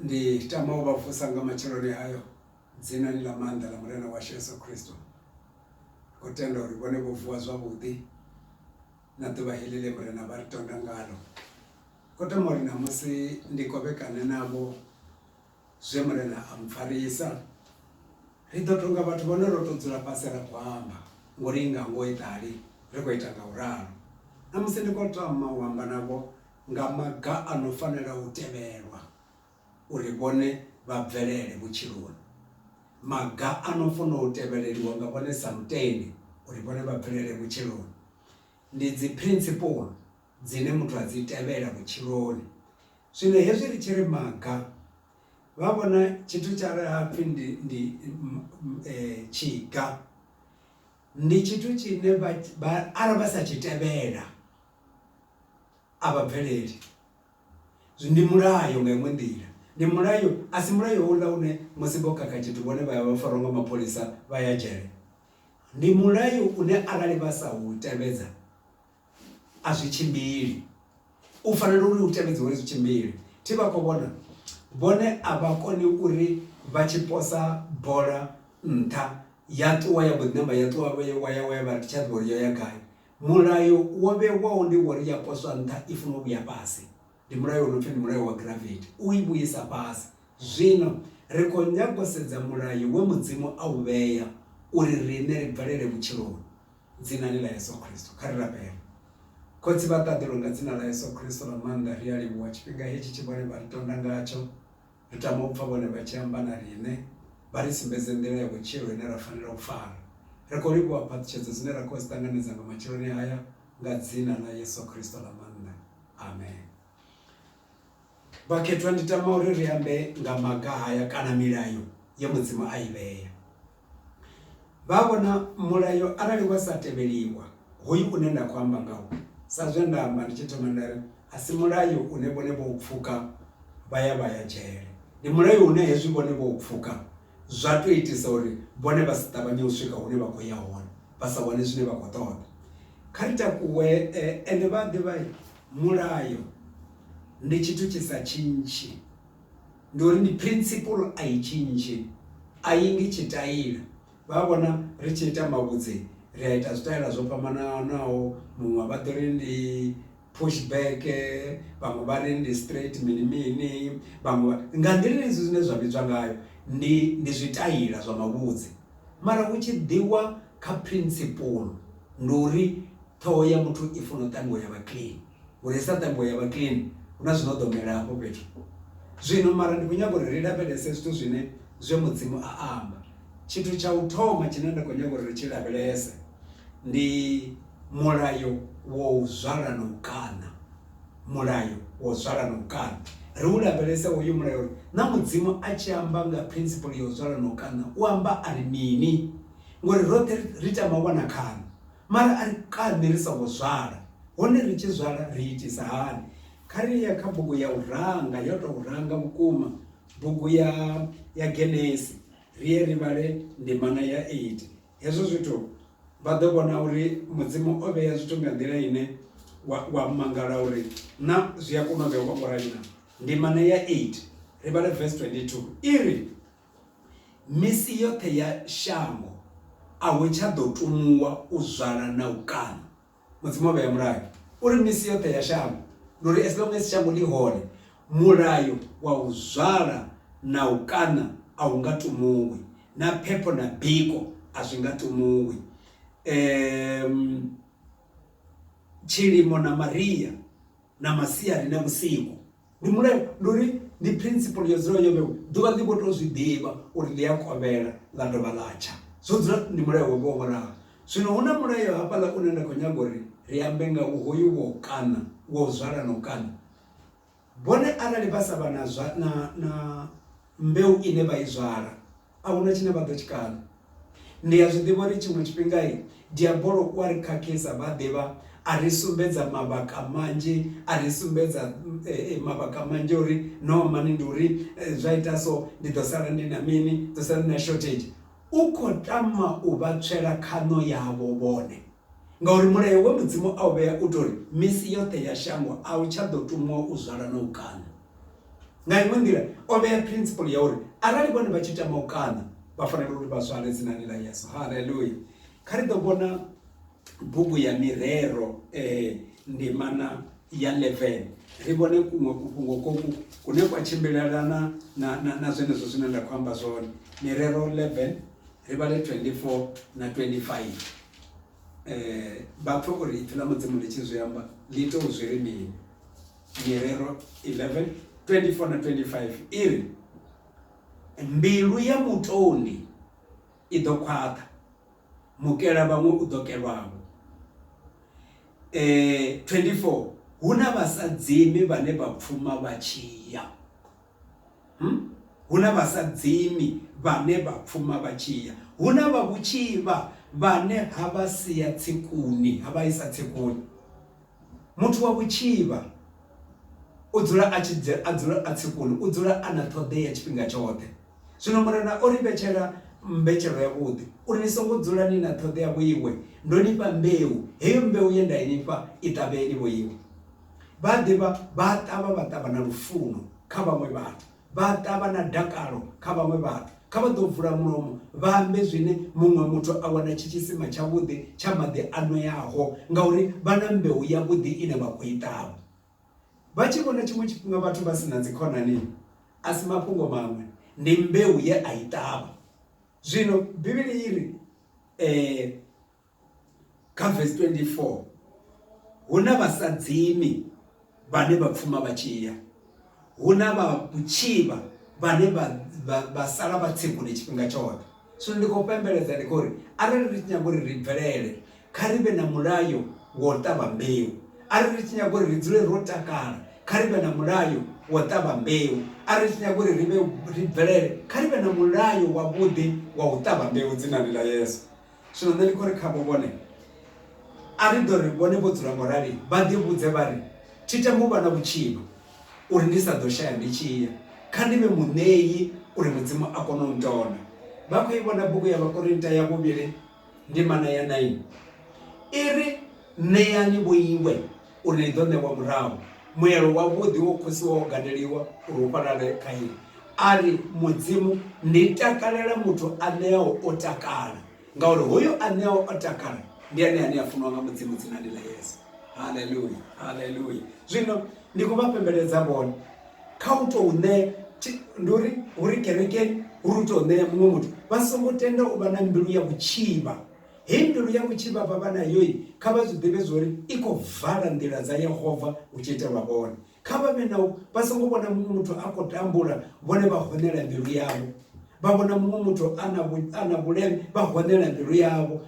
Ndi tama u vha vusa nga matsheloni hayo dzinani ḽa maanḓa ḽa Murena washu Yeso Khristo. Ndi khou tenda uri vhone vho vuwa zwavhuḓi na ḓuvha heḽi ḽe Murena vha ri tonda ngalo. Ndi khou tama uri ṋamusi ndi kovhekane navho. Zwe Murena a mpfarisa, ri ḓo tonga vhathu vhane ro tou dzula fhasi ra khou amba ngo linga ngo eḓali ri khou ita nga u ralo. Ṋamusi ndi khou tama u amba navho nga maga a no fanela u tevhelwa uri vhone vha bvelele vhutshiloni, maga a no funa u tevheleliwa nga vhone sa mutendi uri vhone vha bvelele vhutshiloni. Ndi dziphrinthipulo dzine muthu a dzi tevhela vhutshiloni. Zwino hezwi ri tshi ri maga, vha vhona tshithu tsha re hapfi ndi ndi tshiga ndi tshithu tshine vha arali vha sa tshi tevhela a vha bveleli. Zwi ndi mulayo nga iṅwe nḓila, ndi mulayo a si mulayo houḽa une musi vho khakha tshithu vhone vha ya vha farwa nga mapholisa vha ya dzhele. Ndi mulayo une arali vha sa u tevhedza a zwi tshimbili u fanela uri u tevhedze uri zwi tshimbile thi vha khou vhona vhone a vha koni uri vha tshi posa bola nṱha ya ṱuwa ya mbo ḓi namba ya ṱuwa ya wa ya wa ya vha ri tsha ḓivha uri yo ya gai mulayo wo vhewaho ndi wori ya poswa nṱha i funa u vhuya fhasi ndi mulayo wo no pfhi ndi mulayo wa gravity u i vhuisa fhasi zwino ri khou nyaga u sedza mulayo we mudzimu a u vhea uri riṋe ri bvelele vhutshiloni. Dzinani ḽa Yesu Kristo, kha ri rabele. Khotsi vha ṱaḓulu, nga Dzina ḽa Yesu Kristo ḽa maanḓa, ri a livhuwa tshifhinga hetshi tshe vhone vha ri tonda ngatsho. Ri tama u pfa vhone vha tshi amba na riṋe, vha ri sumbedze nḓila ya vhutshilo ine ra fanela u fara. Ri khou livhuwa phaṱhutshedzo dzine ra khou dzi ṱanganedza nga matsheloni haya, nga Dzina ḽa Yesu Kristo ḽa maanḓa. Amen. Vhakhethwa, ndi tama uri ri ambe nga maga haya kana milayo ye Mudzimu a i vhea. Vha vhona, mulayo arali wa sa tevheliwa, hoyu une nda khou amba ngawo, sa zwe nda amba ndi tshi thoma nda ri, a si mulayo une vhone vho u pfuka vha ya vha ya dzhele. Ndi mulayo une hezwi vhone vho u pfuka, zwa tou itisa uri vhone vha si ṱavhanye u swika hune vha khou ya hone vha sa wane zwine vha khou ṱoḓa. Kha ri takuwe ende vha a ḓivha mulayo ndi tshithu tshi sa tshintshi ndi uri ndi principle a i tshintshi a i ngi tshitaila vha vhona ri tshi ita mavhudzi ri a ita zwitaela zwo fhambananaho muṅwe vha ḓo ri ndi Push back, vhaṅwe vha ri ndi straight mini mini, vhaṅwe vha, nga nḓila ine zwithu zwine zwa vhidzwa ngayo ndi ndi zwitaila zwa mavhudzi. Mara hu tshi ḓiwa kha principle ndi uri ṱhoho ya muthu i funa u ṱanzwiwa ya vha clean, ngori i sa ṱanzwiwa ya vha clean hu na zwino ḓo mela hafho fhethu. Zwino mara ndi khou nyaga uri ri lavhelese zwithu zwine zwe Mudzimu a amba, tshithu tsha u thoma tshine nda khou nyaga uri ri tshi lavhelese, Ndi mulayo wa u zwala na u kaṋa mulayo wa u zwala na u kaṋa ri u lavhelese hoyu mulayo uri na mudzimu a tshi amba nga principle ya u zwala na u kaṋa u amba a ri mini ngori roṱhe ri tama u wana khaṋo mara a ri kaṋi ri songo zwala hone ri tshi zwala ri itisa hani kha ri ye kha bugu ya u ranga yo tou ranga vhukuma bugu ya ya Genesis ri ye ri vhale ndimana ya eight Hezwo zwithu vha ḓo vhona uri Mudzimu o vhea zwithu nga nḓila ine wa, wa mangala uri na zwi a kona u vhewa ngo rali na. Ndimana ya 8 ri vhale verse 22 i ri, Misi yoṱhe ya shango a hu tsha ḓo tumuwa u zwala na u kaṋa. Mudzimu o vhea mulayo uri misi yoṱhe ya shango, ndi uri as long as shango ḽi hone, mulayo wa u zwala na u kaṋa a hu nga tumuwi, na phepho na biko a zwi nga tumuwi. Um Tshilimo na maria na masiari na vhusiku. ndi mulayo ndi uri ndi principle yo dzula yo vhewa ḓuvha ḽi vho to zwi ḓivha uri ḽi a kovhela ḽa dovha ḽa tsha zwo dzula ndi mulayo wo vhewa vholaha zwino hu na mulayo hafhaḽa une nda khou nyaga uri ri ambe nga u hoyu wo kana wo zwala no kana vhone arali vha sa vha na zwa na na mbeu ine vha i zwala a huna tshine vha ḓo tshi kala. Ndi a zwi ḓivha uri tshiṅwe tshifhinga diabolo u a ri khakhisa vha ḓivha a ri sumbedza mavhaka manzhi a ri sumbedza mavhaka manzhi uri no mani ndi uri zwa ita so ndi ḓo sala ndi na mini ḓo sala na shortage u kho tama u vha tswela khaṋo yavho vhone ngauri mulayo wa mudzimu a u vhea u tori misi yoṱhe ya shango a u tsha ḓo tumiwa u zwala na u kaṋa. Nga iṅwe nḓila, o vhea phrinsipuḽu ya uri arali vhone vha tshi tama u kaṋa, vha fanela uri vha zwale dzinani ḽa Yesu. Haleluya! Kha ri ḓo vhona bugu ya Mirero eh, ndimana ya 11 ri vhone kuṅwe kufhungo koku kune kwa tshimbilelana na, na, na zwenezwo zwine nda khou amba zwone. Mirero 11 ri vhale 24 na 25 eh, vha pfe uri ipfi ḽa mudzimu ḽi tshi zwi amba ḽi tou zwi ri mini Nyerero 11 24 na 25 iri mbilu ya mutoni i ḓo khwaṱha mukela vhaṅwe u ḓo kelwavho eh 24 hu na vhasadzimi vhane vha pfuma vha tshiya hm hu na vhasadzimi vhane vha pfuma vha tshiya hu na vha vhutshivha vhane ha vha sia tsikuni ha vha isa tsikuni. Muthu wa vhutshivha u dzula a tshi a dzula a tsikulu, u dzula a na ṱhoḓea tshifhinga tshoṱhe. Zwino Murena o ri vhetshela mbetshelo yavhuḓi, uri ni songo dzula ni na ṱhoḓea vhoiwe. Ndo ni fha mbeu, heyo mbeu ye nda i ni fha, i ṱavheni vhoiwe. Vhaḓivha vha a ṱavha, vha ṱavha na lufuno kha vhaṅwe vhathu. Vha ḓa vha na dakalo kha vhaṅwe vhathu. Kha vha ḓo vula mulomo vha ambe zwine muṅwe muthu a wana tshi tshisima tshavhuḓi tsha maḓi a nweaho, ngauri vha na mbeu yavhuḓi ine vha khou i ṱavha. Vha tshi vhona tshiṅwe tshifhinga vhathu vha si na dzikhonani, a si mafhungo maṅwe, ndi mbeu ye a i ṱavha. Zwino Bivhili i ri, kha verse 24 huna vhasadzimi vhane vha pfuma vha tshiya huna vha kutshivha vhane vha sala vha tsegule tshifhinga tshoṱhe so ndi khou pembeledza ndi khou ri arali ri tshi nyaga uri ri bvelele kha ri vhe na mulayo wo ṱavha mbeu arali ri tshi nyaga uri ri dzule ro takala kha ri vhe na mulayo wo ṱavha mbeu arali ri tshi nyaga uri ri vhe ri bvelele kha ri vhe na mulayo wavhuḓi wa u ṱavha mbeu dzinani ḽa yesu Zwino nṋe ndi khou ri khavho, Vhone, a ri ḓo ri vhone vho dzula ngo rali vha ḓivhudze vha ri, Thi tami u vha na vhutshivha, uri ndi sa ḓo shaya ndi tshi ya, kha ndi vhe muṋei uri Mudzimu a kone u ntona. Vha khou i vhona bugu ya Vhakorinta ya Vhuvhili ndimana ya 9? I ri, Ṋeani vho iwe, uri ḽi ḓo ṋewa murahu. Muelo wavhuḓi wo khosiwa wo gadeliwa uri u fhalale kha iḽi. A ri, Mudzimu, ndi takalela muthu a ṋeaho o takala, ngauri hoyo a ṋeaho o takala ndi ene ane a funiwa nga Mudzimu dzinani ḽa Yesu. Haleluya! Haleluya! Zwino ndi khou vha fhembeledza vhone kha u tou ṋea ndi uri hu ri kerekeni hu ri u tou ṋea muṅwe muthu vha songo tenda u vha na mbilu ya vhutshivha Hindu ya vhutshivha vha vha nayo, kha vha zwi ḓivhe zwa uri i khou vala nḓila dza Yehova hu tshi itelwa vhone. Kha vha vhe na u vha songo vhona muṅwe muthu a khou tambula vhone vha honela mbilu yavho, vha vhona muṅwe muthu a na a na vhuleme vha honela mbilu yavho.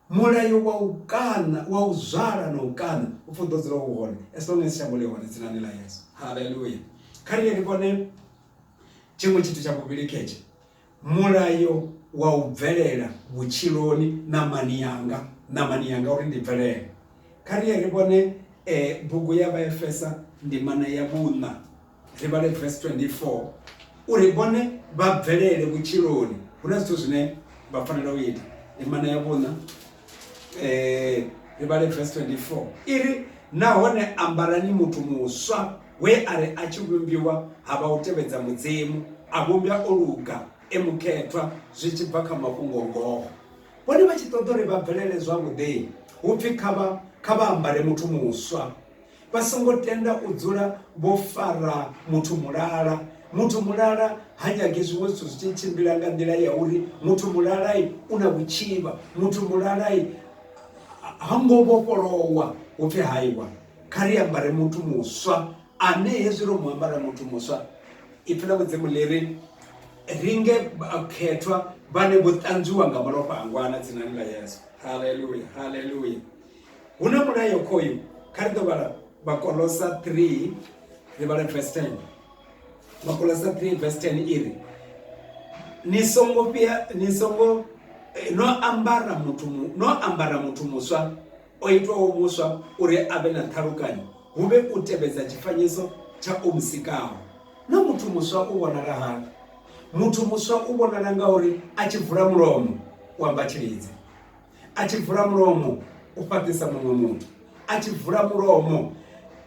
Mulayo wa u kaṋa wa u zwala na u kaṋa u pfhi u ḓo dzula u hone as long as shango ḽi hone dzinani ḽa Yesu. Haleluya! Kha riṋe ri vhone tshiṅwe tshithu tsha vhuvhili khetshe. Mulayo wa u bvelela vhutshiloni ṋamani yanga, ṋamani yanga uri ndi bvelele. Kha ri ye ri vhone bugu ya Vhaefesa ndimana ya vhuṋa, ri vhale vesi 24 uri ri vhone vha bvelele vhutshiloni hu na zwithu zwine vha fanela u ita. Ndimana ya vhuṋa ri vhale vesi 24 i ri, Nahone ambarani muthu muswa. we a ri a tshi vhumbiwa ha vha u tevhedza Mudzimu, a vhumbwa o luga, e mukhethwa zwi tshi bva kha mafhungo-ngoho. Vhone vha tshi ṱoḓa uri vha bvelele zwavhuḓi, hu pfi kha vha kha vha ambare muthu muswa. Vha songo tenda u dzula vho fara muthu mulala. Muthu mulala ha nyagi zwiṅwe zwithu zwi tshi tshimbila nga nḓila ya uri muthu mulala u na vhutshivha, muthu mulala ha ngo vhofholowa hu pfi haiwa. kha ri ambare muthu muswa ane hezwi ro mu ambara muthu muswa ipfi ḽa mudzimu ḽi ri ri nge khethwa vhane vho ṱanzwiwa nga malofha a ngwana dzinani ḽa yesu haleluya haleluya hu na mulayo khoyu kha ri ḓo vhala vhakolosa 3 ri vhala verse 10 vhakolosa 3 verse 10 i ri ni songo fhia ni songo eh, no ambara muthu no ambara muthu muswa O itwaho muswa uri a vhe na ṱhalukanyo hu vhe u tevhedza tshifanyiso tsha o mu sikaho. Naa muthu muswa u vhonala hani? Muthu muswa u vhonala ngauri a tshi vula mulomo u amba tshilidzi, a tshi vula mulomo u fhaṱisa muṅwe muthu, a tshi vula mulomo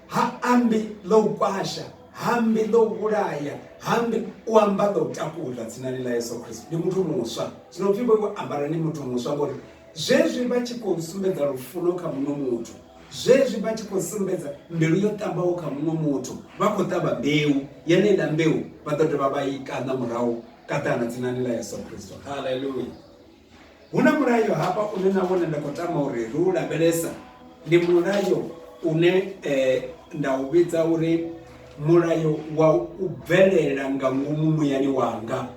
ha ambi ḽa u kwasha, ha ambi ḽa u vhulaya, ha ambi u amba ḽa u takuza tsinani ḽa Yesu Kristo. Ndi muthu muswa, zwino pfhi vho iwe ambarani muthu muswa ngori Zwezwi vha tshi khou sumbedza lufuno kha muṅwe muthu, zwezwi vha tshi khou sumbedza mbilu yo ṱambaho kha muṅwe muthu, vha khou ṱavha mbeu, yeneiḽa mbeu vha ḓo dovha vha i kaṋa murahu kaṱana dzinani ḽa Yesu Kristo. Haleluya! Hu na mulayo hafha une na vhone nda khou tama uri ri u lavhelesa, ndi mulayo une eh, nda u vhidza uri mulayo wa u bvelela nga ngomu muyani wanga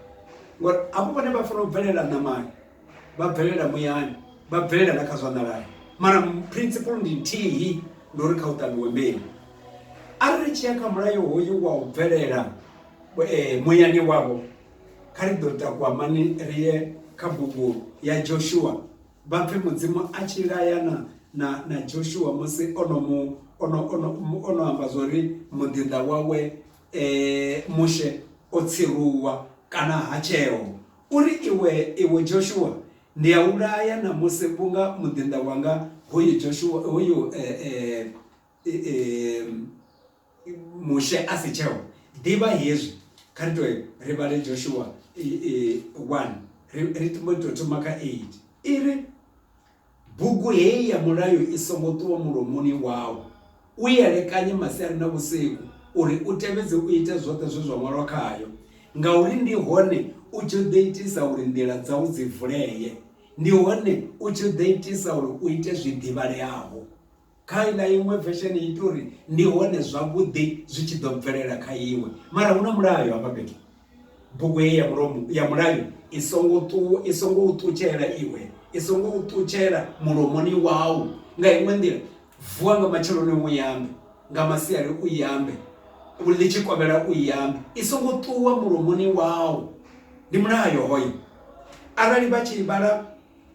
ngori avho vhone vha fanela u bvelela ṋamani vha bvelela muyani vha bvelela na kha zwa nḓalani mara principle ndi nthihi ndi uri kha u ṱavhiwe mbeu arali ri tshi ya kha mulayo hoyu wa u bvelela eh, muyani wavho kha ri ḓo takuwa mani ri ye kha bugu ya joshua vha pfhe mudzimu a tshi layana na na joshua musi ono mu ono ono ono amba zwa uri muḓinḓa wawe um mushe o tsiruwa kana ha tsheo U ri, Iwe, iwe Joshua, ndi a u laya ṋamusi vhunga muḓinḓa wanga hoyu Joshua hoyu Mushe a si tsheho. Ḓivha hezwi, kha ri tou ri vhale Joshua 1, ri ri mbo ḓi tou thoma kha 8. I ri, Bugu hei ya mulayo i songo ṱuwa mulomoni wau. U i elekanye masiari na vhusiku, uri u tevhedze u ite zwoṱhe zwe zwa ṅwalwa khayo, ngauri ndi hone u tshi ḓo itisa uri nḓila dzau dzi vulee, ndi hone u tshi ḓo itisa uri u ite zwi ḓivhaleaho. Kha iḽa iṅwe vesheni ita uri ndi hone zwavhuḓi zwi tshi ḓo bvelela kha iwe mara hu na mulayo hafha fhethu bugu heyi ya mulomo ya mulayo i songo ṱu i songo u ṱutshela iwe i songo u ṱutshela mulomoni wau nga iṅwe nḓila vuwa nga matsheloni u yambe nga masiari u yambe ḽi tshi kovhela u yambe i songo ṱuwa mulomoni wau ndi mulayo hoyo arali vha tshi vhala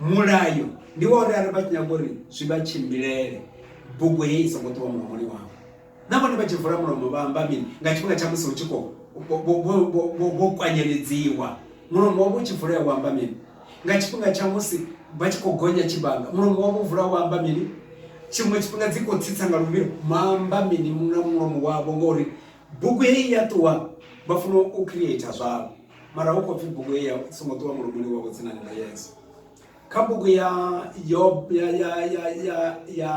mulayo ndi wa uri arali vha tshi nyaga uri zwi vha tshimbilele bugu heyi i songo ṱuwa mulomoni wavho na vhone vha tshi vula mulomo vha amba mini nga tshifhinga tsha musi hu tshi khou vho kwanyeledziwa mulomo wavho u tshi vulea wa amba mini nga tshifhinga tsha musi vha tshi khou gonya tshibanga mulomo wavho vula wa amba mini tshiṅwe tshifhinga dzi khou tsitsa nga luvhilo maamba mini na mulomo wavho ngori bugu heyi ya ṱuwa vha funa u creator zwavho mara hu khou pfhi bugu heyi i songo ṱuwa mulomoni wavho dzinani ḽa yesu kha bugu ya yob ya ya ya ya ya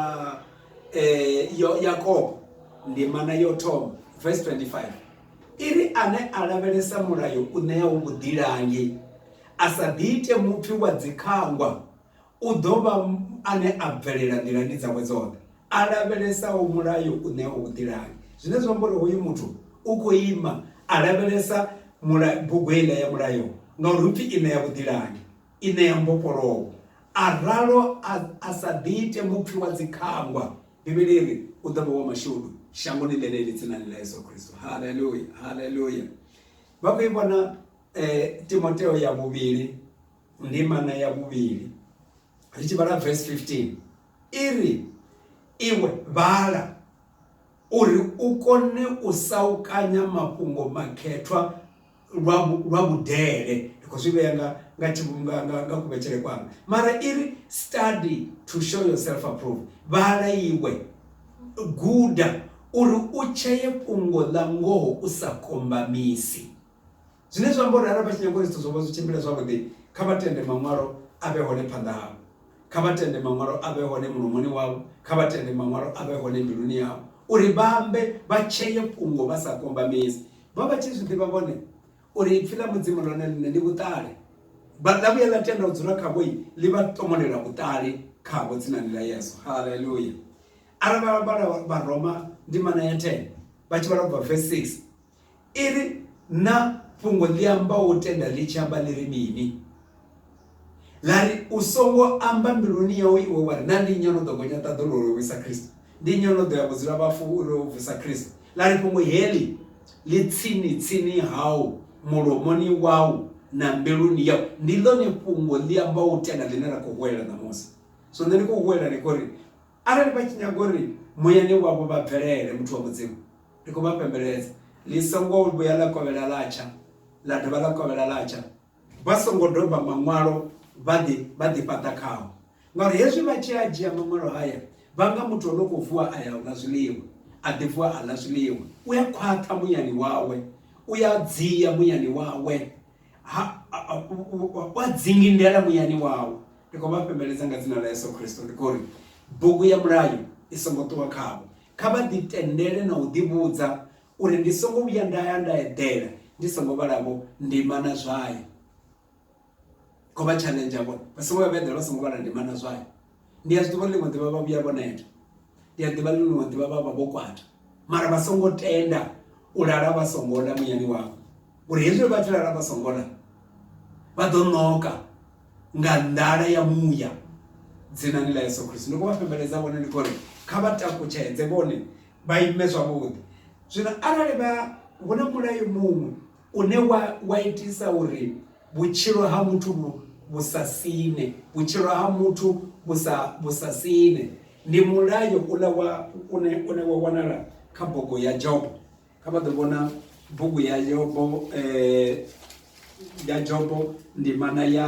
eh, yo yakobo ndimana yo thoma verse 25 i ri ane a lavhelesa mulayo u ṋeaho vhuḓilangi a sa ḓiite mupfi wa dzikhangwa U ḓo vha ane a bvelela nḓilani dzawe dzoṱhe, a lavhelesaho mulayo u ṋea u vhuḓilangi. Zwine zwa amba uri hoyu muthu u khou ima a lavhelesa mula bugu heiḽa ya mulayo ngauri hu pfi i ṋea vhuḓilangi, i ṋea mbofholowo. A ralo a a sa ḓi ite mupfi wa dzikhangwa. Bivhili i ri u ḓo vha wa mashudu shangoni ḽeneḽi dzinani ḽa Yesu Kristo. Haleluya! Haleluya! Vha khou i vhona Timoteo ya vhuvhili. Ndimana ya vhuvhili ri tshi vhala verse 15 iri iwe vhala uri u kone u saukanya mafhungo makhethwa lwa lwa vhudele ndi khou zwi vhea nga nga tshivhunga nga nga kuvhetshele kwanga mara iri study to show yourself approved vhala iwe guda uri u tsheye fhungo ḽa ngoho u sa kombamisi Zwine zwa amba uri arali vha tshi nyaga uri zwithu zwavho zwi tshimbile zwavhuḓi, kha vha tende Maṅwalo a vhe hone phanḓa havho. Kha vha tende Maṅwalo a vhe hone mulomoni wavho. Kha vha tende Maṅwalo a vhe hone mbiluni yavho, uri vha ambe, vha tsheye fhungo vha sa kombamisi. Vho vha vha tshi zwi ḓivha vhone uri Ipfi ḽa Mudzimu ḽone ḽiṋe ndi vhuṱali. Vha, ḽa vhuya ḽa tenda u dzula khavho, ḽi vha tomolela vhuṱali khavho dzinani ḽa Yesu. Haleluya! Arali vha vhala Vharoma ndimana ya 10, vha tshi vhala u bva vesi 6, I ri, Na fhungo ḽi ambaho u tenda ḽi tshi amba ḽi ri mini? Ḽa ri, U songo amba mbiluni yau iwe wa ri, Na ndi nnyi o no ḓo gonya ṱaḓulu uri o vhuisa Kristo? Ndi nnyi o no ḓo ya vhudzulavhafu uri o vusa Kristo? Ḽa ri, Fhungo heḽi ḽi tsini-tsini hau, mulomoni wau na mbiluni yau. Ndi ḽone fhungo ḽi ambaho u tenda ḽine ra khou huwelela ṋamusi. Zwino nṋe ndi khou huwelela hanefho uri. Arali vha tshi nyaga uri muyani wavho vha bvelele muthu wa Mudzimu, ndi khou vha fhembeledza, ḽi songo vhuya ḽa kovhela ḽa tsha, ḽa dovha ḽa kovhela ḽa tsha, vha songo doba Maṅwalo vha ḓi, vha ḓi fhaṱa khao, ngauri hezwi vha tshi a dzhia Maṅwalo haya, vha nga muthu o no khou vuwa a ya u ḽa zwiḽiwa, a ḓi vuwa a ḽa zwiḽiwa, u a khwaṱha muyani wawe, u a dzia muyani wawe, wa dzingi ndela muyani wawo ndi khou vha fhembeledza nga dzina ḽa yesu khristo ndi khou ri bugu ya mulayo i songo ṱuwa khavho kha vha ḓitendele na u ḓivhudza uri ndi songo vhuya nda ya nda eḓela ndi songo vhalavho ndima na zwayo kho vha challenge vhone vha songo vha vha eḓela vha songo vhala ndima na zwayo ndi a zwiḓivha ḽiṅwe ḓivha vha vhuya vho neta ndi a ḓivha ḽiṅwe ḓivha vha vha vho kwata mara vha songo tenda u lala vha songo ḽa muyani wavho uri hezwi vha tshi lala vha songo ḽa vha ḓo ṋoka nga nḓala ya muya dzinani ḽa yesu khristu ndi khou vha fhembeledza vhone ndi khori kha vha takutshedze vhone vha ime zwavhuḓi zwino arali vha hu na mulayo muṅwe une wa, wa itisa uri vhutshilo ha muthu vhu, vhu sa sine vhutshilo ha muthu vhu sa, vhu sa sine ndi mulayo ula wa une, une wa wanala kha bugu ya jobo kha vha ḓo vhona bugu ya jobo eh, ya jobo ndimana ya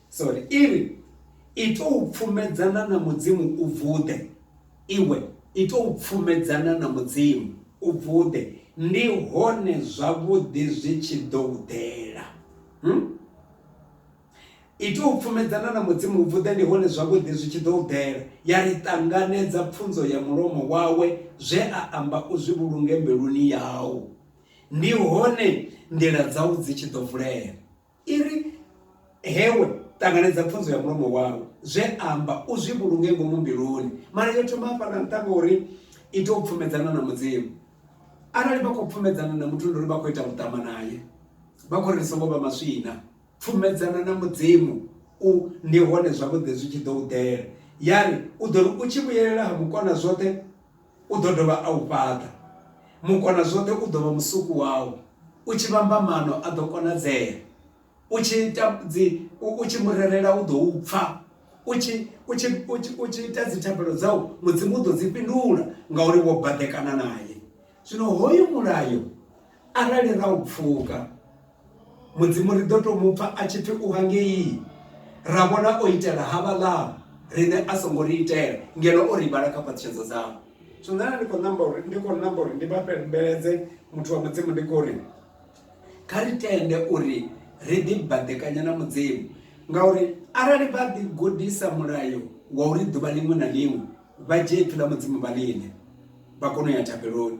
Sorry, i ri, I tou pfumedzana na Mudzimu u vuḓe. Iwe, i tou pfumedzana na Mudzimu u vuḓe, ndi hone zwavhuḓi zwi tshi ḓo u ḓela. Hmm? I tou pfumedzana na Mudzimu u vuḓe, ndi hone zwavhuḓi zwi tshi ḓo u ḓela. Ya ri ṱanganedza pfunzo ya mulomo wawe, zwe a amba u zwi vhulunge mbiluni yau. Ndi hone nḓila dzau dzi tshi ḓo vulea. i ri hewe ṱanganedza pfunzo ya mulomo wawe zwe amba u zwi vhulunge ngomu mbiluni mara yo thoma hafhaḽa nṱha ngori i tea u pfumedzana na mudzimu arali vha khou pfumedzana na muthu ndi uri vha khou ita vhuṱama naye vha khou ri ri songo vha maswina pfumedzana na mudzimu u ndi hone zwavhuḓi zwi tshi ḓo u ḓela ya ri u ḓo ri u tshi vhuyelela ha mukona zwoṱhe u ḓo dovha a u fhaṱa. Mukonazwoṱhe u ḓo vha musuku wau, u tshi vhamba maano a ḓo konadzea, u tshi ita dzi, u tshi mu rerela u ḓo u pfa, u tshi u tshi u tshi u tshi ita dzi thabelo dzau Mudzimu u ḓo dzi fhindula ngauri wo baḓekana nae. Zwino hoyu mulayo arali ra u pfuka mudzimu ri ḓo tou mupfa a tshi pfi u vha ngei ra vhona o itela havhaḽa riṋe a songo ri itela ngeno o ri vhala kha phaṱhutshedza dzavho zwino nṋe ndi khou namba uri ndi khou namba uri ndi vha fheleledze muthu wa mudzimu ndi khou ri kha ri tende uri ri ḓi baḓekanya na mudzimu ngauri arali vha ḓi gudisa mulayo wa uri ḓuvha ḽiṅwe na ḽiṅwe vha dzhie ipfi ḽa mudzimu vha ḽine vha kone u ya thabeloni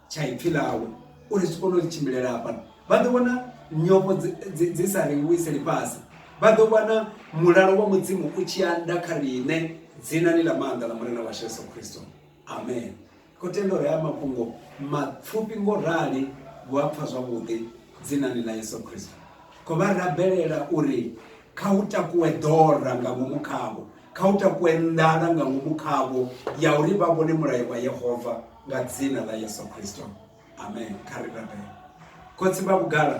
tsha ipfi ḽawe uri zwi kone u tshimbilela hafhano vha ḓo wana nyofho dzi sa ri vhuise lifhasi vha ḓo wana mulalo wa mudzimu u tshi anda kha riṋe dzinani ḽa maanḓa ḽa murena washu yesu khristo amen khou tenda uri haya mafhungo mapfufhi ngo rali vhu a pfha zwavhuḓi dzinani ḽa yesu khristo khou vha rabelela uri Kha hu takuwe ḓora nga ngomu khavho, kha hu takuwe nḓala nga ngomu khavho ya uri vha vhone mulayo wa Yehova nga dzina ḽa Yesu Kristo. Amen. Kha ri rabele. Khotsi vha vhugala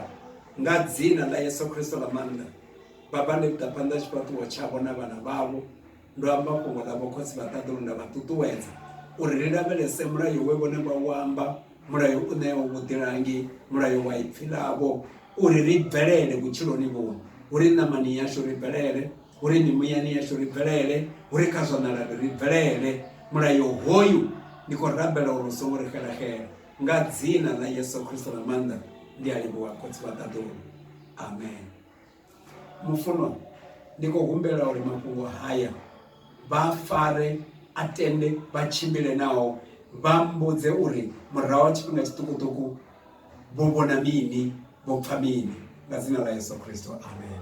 nga dzina ḽa Yesu Kristo ḽa maanḓa, Baba ndi ḓa phanḓa tshifhaṱuwo tshavho na vhana vhavho Ndo amba fhungo ḽa vhokhotsi vha ṱaḓulu nda vha ṱuṱuwedza uri ri lavhelese mulayo we vhone vha u amba, mulayo u ṋeaho vhuḓilangi, mulayo wa ipfi ḽavho, uri ri bvelele vhutshiloni vhuno, hu ri ṋamani yashu ri bvelele, hu ri mimuyani yashu ri bvelele, hu ri kha zwa ṋalani ri bvelele. Mulayo hoyu ndi khou rabela uri u songo ri xelaxela. Nga dzina ḽa Yesu Kristo ḽa maanḓa ndi a livhuwa khotsi vha ṱaḓulu. Amen. mufunwa ndi khou humbela uri mafhungo haya vha fare a tende vha tshimbile nao vha mbudze uri murahu ha tshifhinga tshiṱukuṱuku vho vhona mini vho pfha mini nga dzina ḽa yesu khristo amen